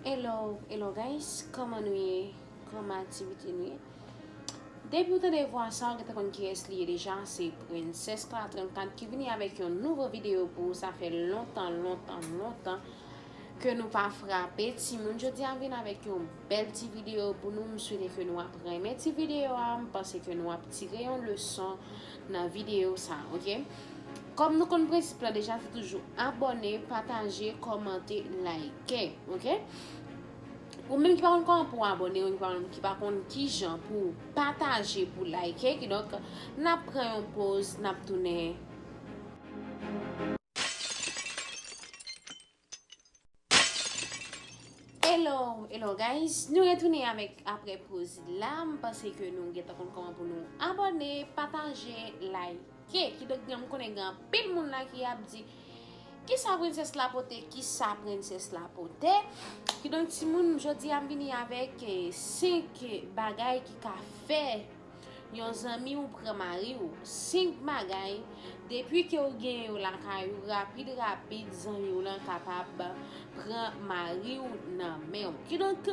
Hello hello guys kòman nou ye kòman aktivite nou ye Depi ou tande vwa sa ou gen ta konn ki es li ye deja se Princess Clara 34 ki vini avèk yon nouvo video pou ou sa fè lontan lontan lontan ke nou pa frape timoun jodi a m vin avèk yon Bèl ti video pou nou m swete ke nou ap renmen ti video a m panse ke nou ap tire yon leson nan video sa ok kòm nou konn prensip la deja se toujou abòne pataje kòmante like ok ou menm ki pa konn kòman pou abòne ou menm ki pa konn kijan pou pataje pou like kidonk nap pran yon poz nap tounen. Hello hello guys nou retounen avèk aprè poz la m panse ke nou gentan konn kòman pou nou abòne pataje like kidonk m konnen gen anpil moun la ki ap di kisa princesse la pote kisa princesse la pote kidonk timoun jodi a m vini avèk 5 bagay ki ka fè Yon zanmi ou pran mari ou. 5 bagay, depi ke ou gen yo lakay ou, rapid rapid zanmi w lan kapab pran mari ou nan men ou. Kidonk,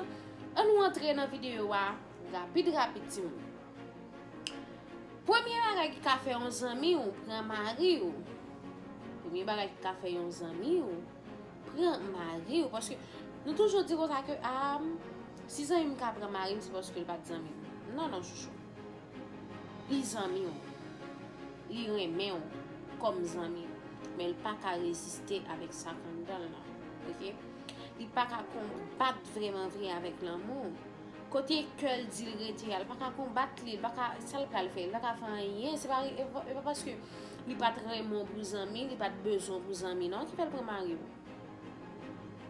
an nou antre nan videyo a, rapid rapid ti moun. Premye bagay ki ka fè yon zanmi ou pran mari ou. Premye bagay ki ka fè yon zanmi ou. pran mariw paske nou toujou di konsa ke aam si zanmim ka pran marim se paske li pat zanmim non non chouchou li zanmiw li renmenw kòm zanmi men li paka reziste avèk sak anndanl nan ok li paka konbat vreman vre avèk lanmou. Kote kè l di l rete a, l pa ka konbat li, l pa ka, sa l pral fè, li pa ka fè anyen, se pa, e pa paske li pat renmen w pou zanmi, li pat bezwen w pou zanmi non ki fè l pran mari w.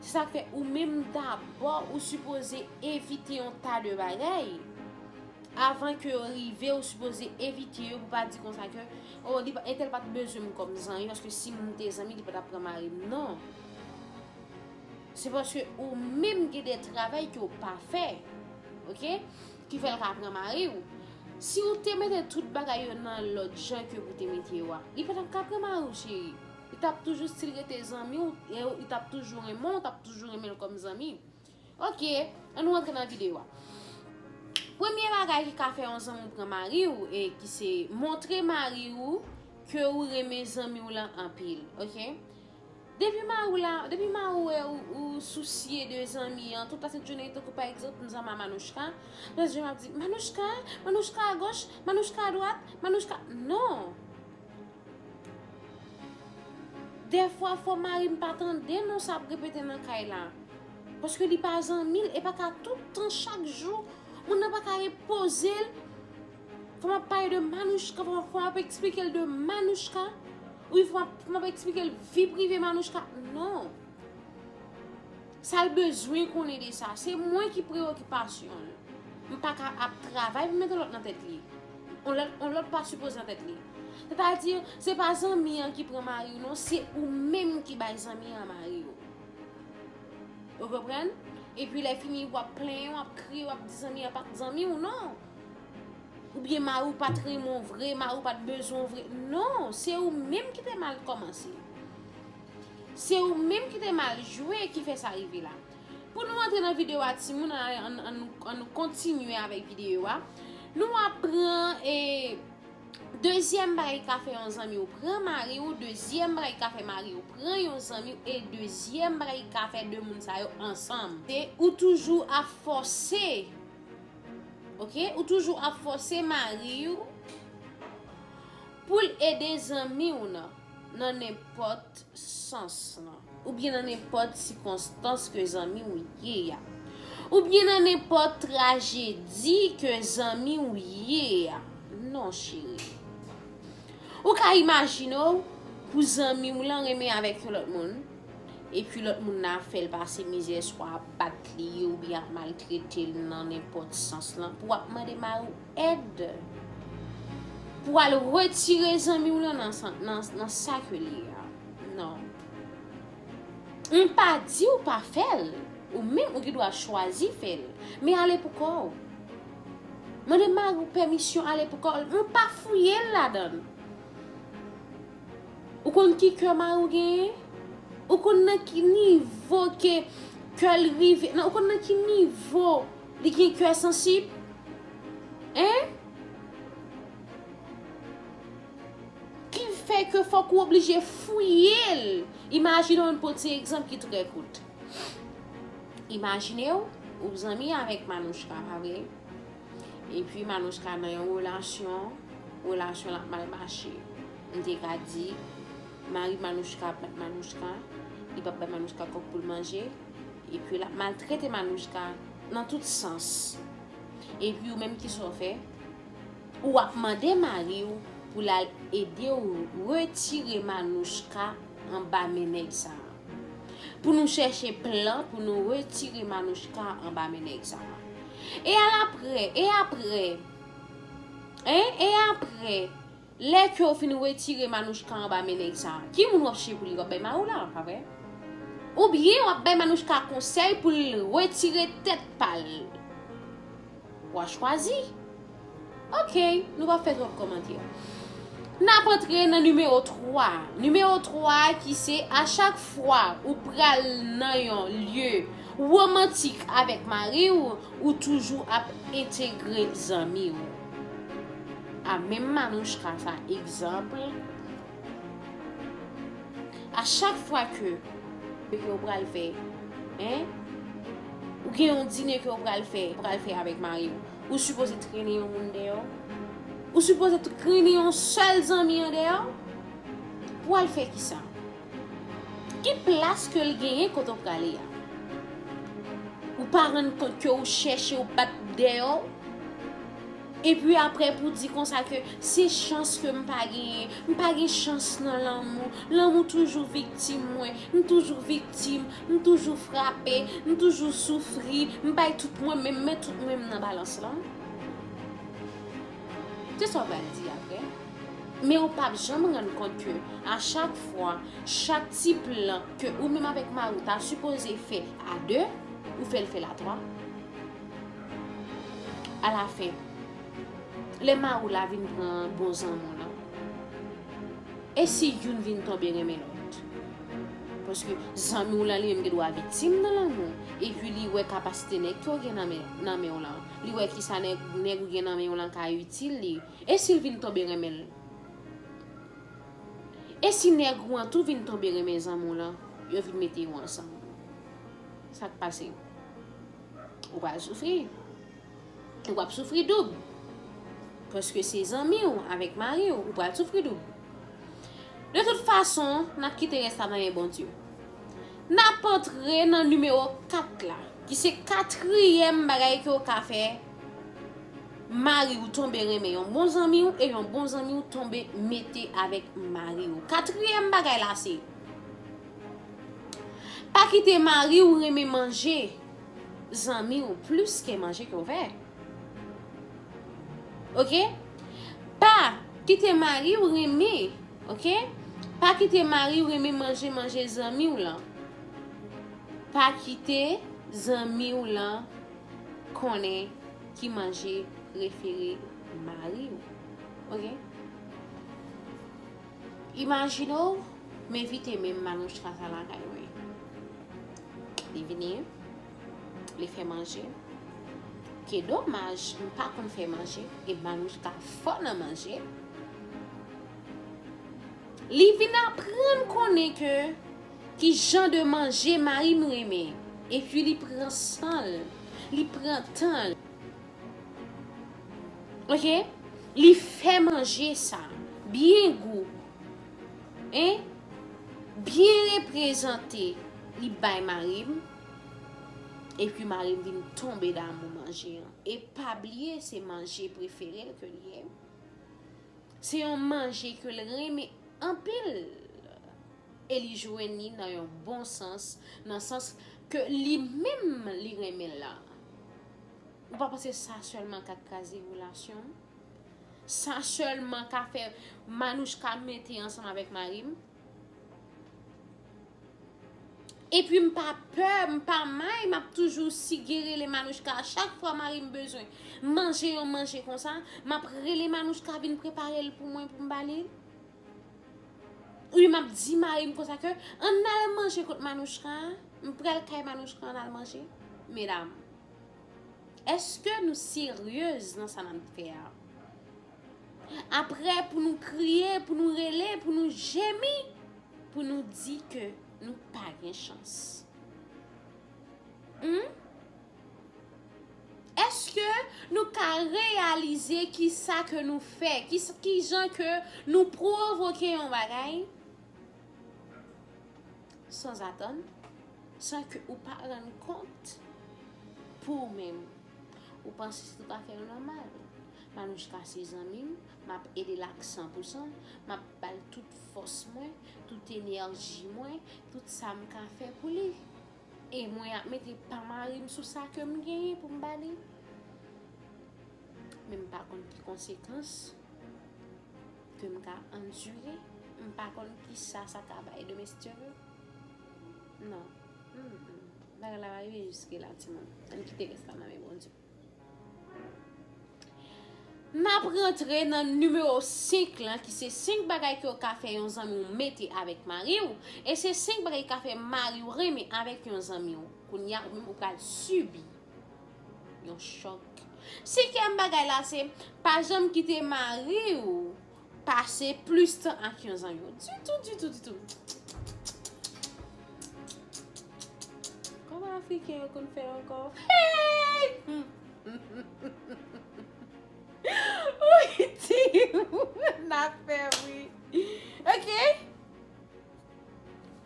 Se sa k fè ou menm dabò ou sipoze evite yon ta de bagay, avan ke yo rive ou sipoze evite yo pou pa di konsa ke, o li, entèl pat bezwen m kòm zanmi paske si m te zanmi li pa tap pran mari m non. Se paske ou menm gen de travay ke ou pa fè ok ki fè l ka pran mari ou si ou te mete tout bagay yo nan lòd jan ke pou te mete yo a li pa tap ka pran mari ou cheri li tap toujou stil rete zanmi ou e li tap toujou renmen ou tap toujou renmen l kòm zanmi ok an nou antre nan videyo a premye bagay ki ka fè yon zanmi ou pran mari ou e ki se montre mari ou ke ou renmen zanmi ou lan anpil ok. Depi mariw la depi mariw wè ou sousye de zanmi an tout la sent jounen tankou pa egzanp m zanmi a Manouchka lòt jou map di Manouchka Manouchka a goch Manouchka a dwat Manouchka non dèfwa fò marim pa tande non sa ap repete nan kay la paske li pa zanmil e pa ka tout tan chak jou moun nan pa ka repozel Fò m ap pale de Manouchka, fò m ap eksplike l de Manouchka, wi fò m ap eksplike l vi prive Manouchka, non. Sa l bezwen konnen de sa, se mwen ki preyokipasyon l. M pa ka ap travay pou m mete lòt nan tèt li. On lòt pa sipoze nan tèt li. Sètadi, se pa zanmi an ki pran mari w non, se ou menm ki bay zanmi an mari w. Ou konprann? Epi lè fini w ap plenyen, w ap kriye, w ap di zanmi an pa t zanmi w, non. Ou byen mari w pat renmen w vre, mari w pat bezwen w vre. Non, se ou menm ki te mal kòmanse. Se ou menm ki te mal jwe ki fè sa rive la. Pou nou antre nan videyo a ti moun, an nou kontinye avèk videyo a. Nou a pran e dezyèm bagay ka fè yon zanmi w pran mari w, dezyèm bagay ka fè mari w pran yon zanmi w, e dezyèm bagay ka fè de moun sa yo ansanm. Ou toujou ap fòse. Ok ou toujou ap fose mariw poul ede zanmiw nan nan nenpot sans lan ou byen nan nenpot sikonstans ke zanmiw ye ya ou byen nan nenpot trajedi ke zanmiw ye ya non cheri ou ka imajine w pou zanmiw lan renmen avèk yon lòt moun. Epi lòt moun nan ap fè l pase mizè swa ap bat li oubyen ap maltrete l nan nenpòt sans lan pou w ap mande mari w èd pou w al retire zanmi w lan nan sa ke l ye a. Non. M pa di w pa fè l, ou menm ou gen dwa chwazi fè l, men ale pou kò w. Mande mari w pèmisyon ale pou kò l, men pa fouye l ladan l. Ou konn ki kè mari w genyen? Ou konn nan ki nivo ke kè l rive? Ou konn nan ki nivo li gen kè sansib? Hein? Ki fè ke fòk ou oblije fouye l? Imajine w, pou w ti egzanp ki trè kout. Imajine w, ou zanmi avèk Manouchka, pa vre? Epi Manouchka nan yon relasyon, relasyon l ap mal mache. M te ka di, mari Manouchka ap bat Manouchka, li p ap bay Manouchka kòb pou l manje, epi l ap maltrete Manouchka nan tout sans. Epi ou menm ki sa w fè? Ou ap mande mari w pou l al ede w retire Manouchka anba men nèg sa a. Pou nou chèche plan pou nou retire Manouchka anba men nèg sa. E alapre, e apre, hein, e apre, lè ke ou fin retire Manouchka anba men nèg sa, ki moun wap chèche pou li, wap bay Maroula, pa vre? Oubyen wap bay Manouchka konsèy pou l retire tèt pa l? Wa chwazi? Ok, nou pa fè twòp kòmantè. N ap antre nan nimewo 3 a. Nimewo 3 a ki se a chak fwa ou pral nan yon lye womantik avèk mari w, ou toujou ap entegre zanmi w. A menm Manouchka sa egzanp. A chak fwa ke ou pral fè, hein, ou gen yon dine ke ou pral fè, ou pral fè avèk mari ou, ou sipoze trennen yon moun deyò? Ou sipoze trennen yon sèl zanmi an deyò? Pou al fè kisa? Ki plas ke l genyen kote ou prale a? Ou pa rann kont ke ou chèche ou bat deyò? Epi aprè pou di konsa ke se chans ke m pa genyen, m pa gen chans nan lanmou, lanmou toujou viktim mwen, m toujou viktim, m toujou frape, m toujou soufri, m bay tout mwen men m met tout mwen m nan balans lan. Se sa w pral di aprè. Men ou pap janm rann kont ke a chak fwa, chak ti plan ke ou menm avèk mari w ta sipoze fè a 2, ou fè l fè l a 3. Alafen, lè mari w la vin pran bon zanmi w lan, e si youn vin tonbe renmen lòt? Paske, zanmi w lan li menm gendwa viktim nan lanmou w, epi li wè kapasite nèg ke w gen nan men w lan, li wè kisa nèg ou gen nan men w lan ka itil li, e si l vin tonbe renmen l? E si nèg ou an tou vin tonbe renmen zanmi w lan, yo vin mete yo ansanm? Sa k pase? Ou pral soufri. Ou ap soufri doub. Paske se zanmi ou avèk mari ou. Ou pral soufri doub. De tout fason, n ap kite rès la nan men Bondye. N ap antre nan nimewo 4 la. Ki se katriyèm bagay ke ou ka fè. Mari ou tonbe renmen yon bon zanmi ou. E yon bon zanmi ou tonbe mete avèk mari ou. Katriyèm bagay la se. Pa kite mari w renmen manje zanmi w plis ke manje ke w fè. Ok. Pa kite mari w renmen, ok. Pa kite mari w renmen manje manje zanmi w lan. Pa kite zanmi w lan konnen ki manje prefere mari w. Ok. Imajine w m envite men Manouchka sa lakay mwen. Li vini, li fè manje. Ke domaj m pa konn fè manje e Manouchka fò nan manje. Li vin aprann konnen ke ki jan de manje mari m renmen. Epi li pran san l, li pran tan l. Ok li fè manje sa byen gou hein byen reprezante li bay marim epi marim vin tonbe damou manje an e pa bliye se manje preferel ke li ye se yon manje ke l renmen anpil e li jwenn li nan yon bon sans nan sans ke li menm li renmen la. Ou pa panse sa sèlman ka kraze relasyon? Sa sèlman ka fè Manouchka mete ansanm avèk mari m? Epi m pa pè, m pa may, m ap toujou sige rele Manouchka a chak fwa mari m bezwen manje yon manje konsa, m ap rele Manouchka vin prepare l pou mwen pou m ba li l? Oubyen m ap di mari m konsa ke ann al manje kot Manouchka, m pral kay Manouchka ann al manje? Medam. Eske nou seryez nan sa nap fè a? Aprè pou nou kriye, pou nou rele, pou nou jemi, pou nou di ke nou pa gen chans. Hum? Eske nou ka reyalize ki sa ke nou fè, ki jan ke nou provoke yon bagay? Sanzatann, san ke ou pa rann kont pou ou menm, ou panse se tout afè yo nòmal. Manouchka se zanmi m, m ap ede l ak san pou san, m ap ba l tout fòs mwen, tout enèji mwen, tout sa m ka fè pou li. E mwen ap mete pa mari m sou sa ke m genyen pou m ba li. Men m pa konn ki konsekans. Ke m ka andire, m pa konn kisa sa ka bay demen si Dye ve. Non. Humm. Bagay la pa rive jiske la timoun. An n kite rès la nan men Bondye. N ap rantre nan nimewo 5 lan ki se 5 bagay ke w ka fè yon zanmi w mete avèk mari w. E se 5 bagay ki ka fè mari w renmen avèk yon zanmi w. Kounye a ou menm ou pral sibi. Yon chòk. Senkyèm bagay la se pa janm kite mari ou pase plis tan ak yon zanmi ou. Ditou, ditou, ditou. Kòman Afriken yo konn fè ankò? Hey! Wi, ti, ou nan fè wi. Ok.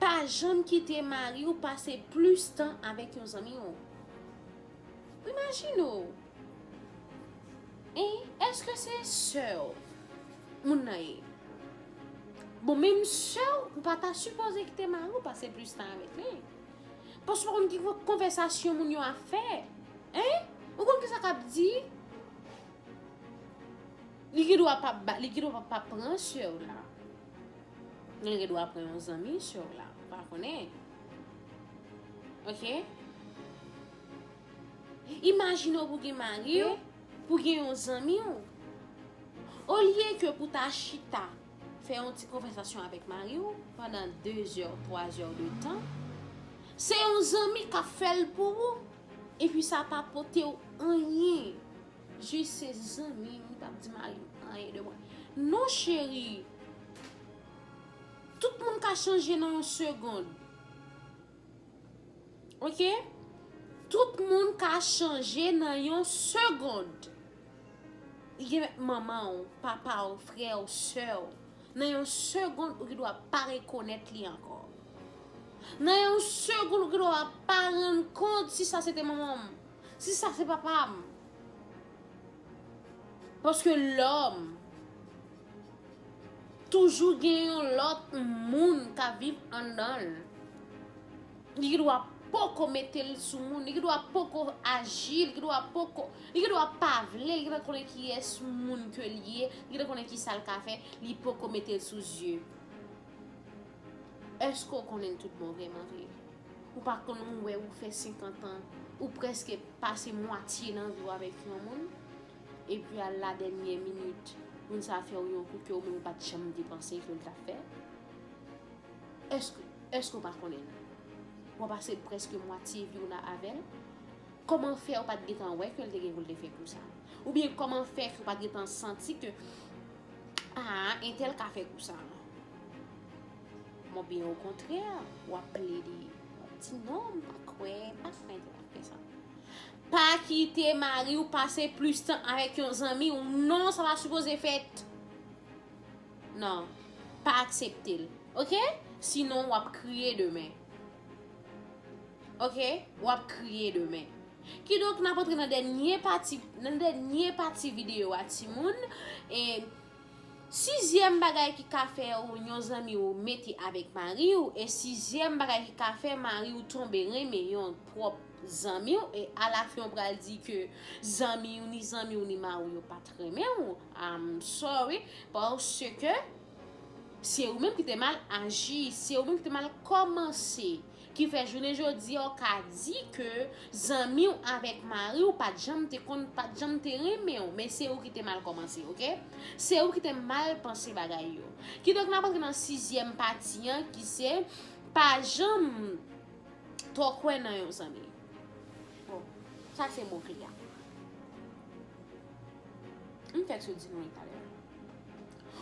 Pa janm kite mari w pase plis tan avèk yon zanmi w. Imajine w e èske se sè w moun nan ye? Bon menm sè w, ou pa ta sipoze kite mari w pase plis tan avèk li. Paske ou pa konn ki konvèsasyon moun yo ap fè. Ou konn kisa k ap di. Li gen dwa pa pran sè w la. Gen lè dwa pran yon zanmi sèw la ou pa konnen ok imajine ou pou gen mariw pou gen yon zanmiw olye ke pou ta chita fè yon ti konvèsasyon avèk mariw pandan 2 zè 3 zè de tan se yon zanmi kap fèl pou ou epi sa pa potew anyen. Jis se zanmi m li pap di mari m anyen de mwen non cheri tout moun ka chanje nan yon segond ok tout moun ka chanje nan yon segond li gen mèt manman w papa w frè w sè w nan yon segond ou gen dwa pa rekonèt li ankò nan yon segond ou gen dwa pa rann kont si sa se te manman m Si sa se papa m. Paske lòm toujou gen yon lòt moun ka viv anndan l. Li gen dwa poko mete l sou moun, li gen dwa poko aji, li gen dwa poko, li gen dwa pa vle, li gen dwa konnen kiyès moun ke li ye, li gen dwa konnen kisa l ka fè, li poko mete l sou zye. Eske w konnen l tout bon vreman vre? Ou pa konn ou wè ou fè 50 an, ou prèske pase mwatye nan vi w avèk yon moun, epi al la dènyè minit moun sa fè w yon kou ke ou menm ou pa t janm te panse ke l t ap fè? Eske, eske w pa konnen l? W ap pase prèske mwatye vi w la avè l? Kòman fè ou pa t gentan wè ke l te gen pou l te fè kou sa? Oubyen kòman fè ke w pa t gentan santi ke, aa entèl ka fè kou sa? Bon byen okontrè wap plede wap di non m pa kwè m pa fè m pa fè sa. Pa kite mari w pase plis tan avèk yon zanmi w non sa pa sipoze fèt. Non, pa aksepte l. Ok, sinon wap kriye demen. Ok, wap kriye demen. Kidonk nap antre nan dènye pati nan dènye pati videyo a timoun e Sizyèm bagay ki ka fè yon zanmi ou mete avèk mari ou e sizyèm bagay ki ka fè mari ou tonbe renmen yon pwòp zanmi ou e alafen ou pral di ke zanmi ou ni zanmi ou ni mari ou yo pat renmen ou I'm sorry paske se ou menm ki te mal aji se ou menm ki te mal kòmanse Ki fè jounen jodi a w ka di ke zanmi w avèk mari w pat janm te konn, pat janm te renmen w, men se ou ki te mal kòmanse ok. Se ou ki te mal panse bagay yo. Kidonk nap antre nan sizyèm pati an ki se, pa janm twò kwè nan yon zanmi. Bon, sa se mo kle a. M fèk sot di nou li talè.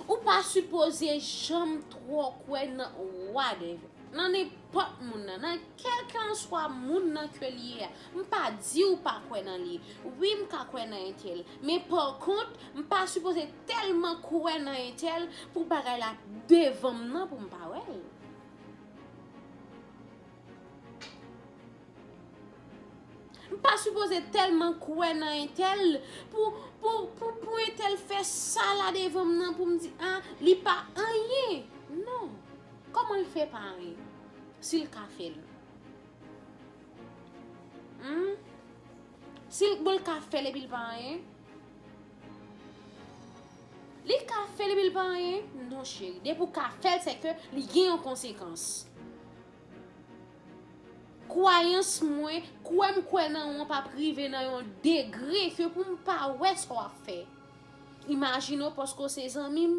Ou pa sipoze janm twò kwè nan whatever, nan nenpòt moun nan, nan kèlkanswa moun nan ke li ye a. M pa di ou pa kwè nan li. Wi m ka kwè nan entèl, men pa kont m pa sipoze tèlman kwè nan entèl pou bagay la devan m nan pou m pa wè l. M pa sipoze telman kwè nan entèl pou pou entèl fè sa la devan m nan pou m di a li pa anyen non kòman l fè pa anyen si l ka fè l humm si l bon l ka fè l epi l pa anyen li ka fè l epi l pa anyen non cheri depi w ka fè l se ke li gen yon konsekans Kwayans mwen, kwè m kwè nan ou an pa p rive nan yon degre ke pou m pa wè sa w ap fè. Imajine w paske w se zanmi m,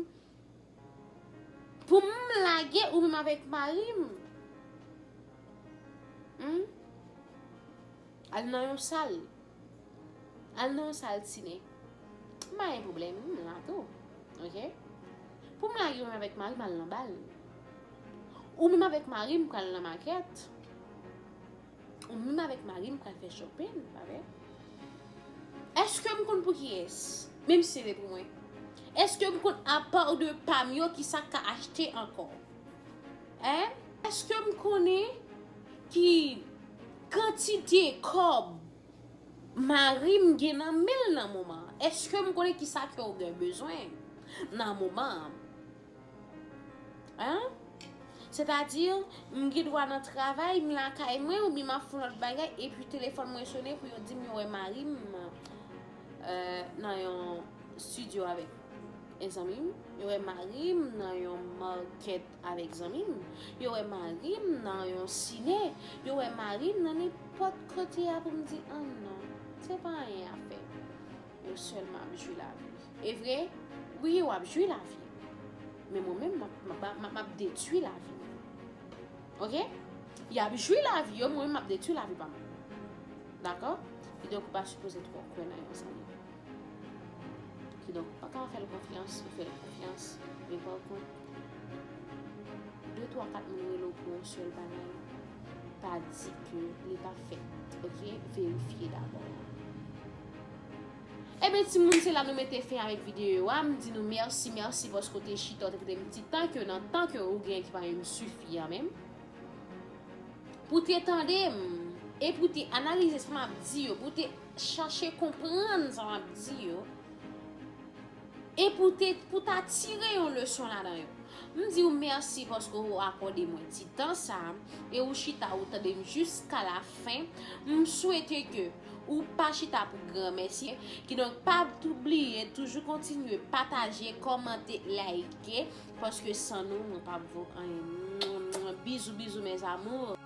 pou m lage ou menm avèk mari m. Al nan yon sal. Al nan yon sal sine. M pa gen pwoblèm, m la tou. Ok? Pou m lage yo menm avèk mari m al nan bal. Ou menm avèk mari m pral nan makèt. Ou menm avèk mari m pral fè shopping, pa vre? Eske m konn pou kiyès? Menm si se te pou mwen. Eske m konn a part de pa m yo ki sa k ka achte ankò? Hein? Eske m konnen ki kantite kob mari m gen nan men l nan moman an? Eske m konnen ki sa ke w gen bezwen nan moman an? Hein? Sètadi, m gen dwa nan travay, m lakay mwen oubyen m ap fè yon lòt bagay epi telefòn mwen sone pou yo di m yo wè mari m nan yon studio avèk. e zanmim yo wè marim nan yon market avèk zanmim yo wè marim nan yon cine yo wè marim nan nenpòt kote a poum di an non se pa anyen ap fè yo sèlman ap jwi lavi e vre wi yo ap jwi lavi men mwen menm map map detwi lavi ok yap jwi lavi yo mwen map detwi lavi pa mwen dakò ki donk ou pa sipoze twò kwè nan yon zanmi Ki donk, ou pa ka fè l konfyans, ou fè l konfyans, men pa kont, de twa kat moun rele w pou yon sèl bagay, pa di ke li pa fèt, ok? Verifye dabò. Eben ti moun, se la nou mete fen avèk videyo a, m di nou mèsi, mèsi paske w te chita, w te kite yon ti tan ke nan tan ke ou gen ki pa menm sifi an menm, pou te tande m, e pou te analize sa m ap di yo, pou te. chache konprann sa map di yo e pou te pou ta tire yon leson ladan yo m di ou mèsi paske ou akòde mwen ti tan sa e ou chita ou tande m jiska la fen m swete ke ou pa chita pou gran mèsi ki donk pa tou bliye toujou kontinye pataje kòmante layike paske san nou mwen pap vo anyen bizou bizou mes amours.